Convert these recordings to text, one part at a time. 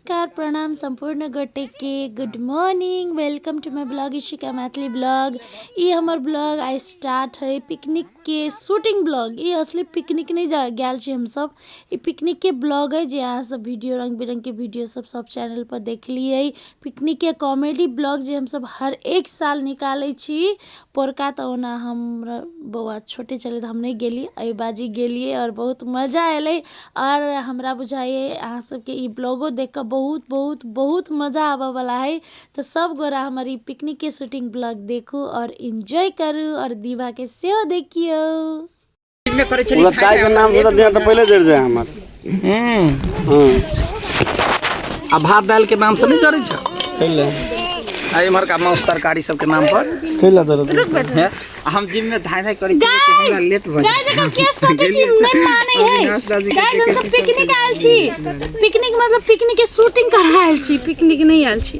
नमस्कार प्रणाम सम्पूर्ण गोटेके good morning welcome to my blog Ishika Maithili blog ई हमर ब्लॉग आइ स्टार्ट है पिकनिकके शूटिंग ब्लॉग ई असली पिकनिक नहि जा गेल छी हमसब ई पिकनिकके ब्लॉग है जे अहाँसब वीडियो रङ्ग बिरङ्गके वीडियो सब सब चैनल पर देखलियै पिकनिकके कॉमेडी ब्लॉग जे हमसब हर एक साल निकालै छी पोरका तऽ ओना हम बौआ छोटे छलै तऽ हम नहि गेलिए एहि बाजी गेलिए आओर बहुत मजा अएलै आओर हमरा बुझाइए अहाँसबके ई ब्लॉगो देखिकऽ बहुत बहुत बहुत मजा आबऽवला हइ तऽ सबगोरा हमर ई पिकनिकके शूटिङ्ग ब्लॉग देखू आओर एन्जॉय करू आओर दीवाके सेहो देखिऔ दिन में करे छली ओला चाय के नाम से दिया तो पहले जड़ जाए हमार हम्म हां आ भात दाल के नाम से नहीं जरे छ पहले आ इमहर का मांस तरकारी सब के नाम पर खेला जरूर हैं? आ हम जिम में धाय धाय करे छी कि हमरा लेट भ गाय देखो के सोचे छी नहीं माने है अविनाश दादी के गाय हम सब पिकनिक आयल छी पिकनिक मतलब पिकनिक के शूटिंग कर आयल छी पिकनिक नहीं आयल छी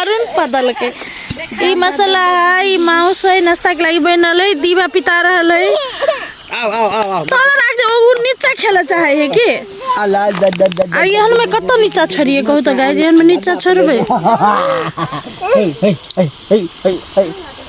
अरुण पदल के ई मसाला है ई माउस है नाश्ता के लागी बन रहल है दीवा पिता रहल है आओ आओ आओ आओ तोरा राख दे ओ नीचा खेले चाहे है की अला द द द आ एहन में कत नीचा छोड़िए कहू तो गाय एहन में नीचा छोड़बे हे हे हे हे हे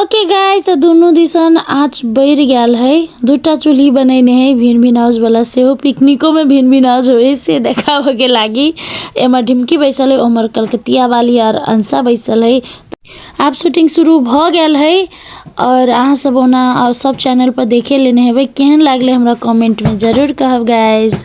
ओके गाय तऽ दुनू दिसन आँच बढ़ि गेल है दूटा चूल्ही बनेने है भिन भिन आउज वाला सेहो पिकनिको में भिन भिन आउज होय से देखाबऽ के लागी एम्हर ढिमकी बैसल है ओम्हर कलकतिया वाली आर अंसा बैसल है आब शूटिंग शुरू भऽ गेल है और अहाँ सब ओना और सब चैनल पर देखे लेने हेबै केहन लागलै हमरा कमेंट में जरूर कहब गाइज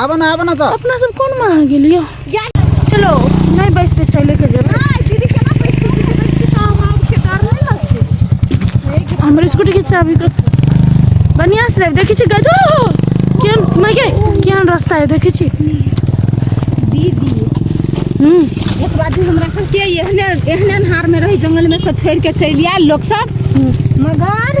आबऽ ना आबऽ ना तऽ अपना सब कोन में आ गेलियो चलो नहीं बैस पे चले के जरूर हमर स्कूटी के चाबी कर बढ़िया से जाब देखी छी गदो केहन मैं के केहन रास्ता है देखी छी दीदी हम्म एक बात भी हमरा सब के एहने एहने अन्हार में रही जंगल में सब छोड़ के चलि आयल लोग सब मगर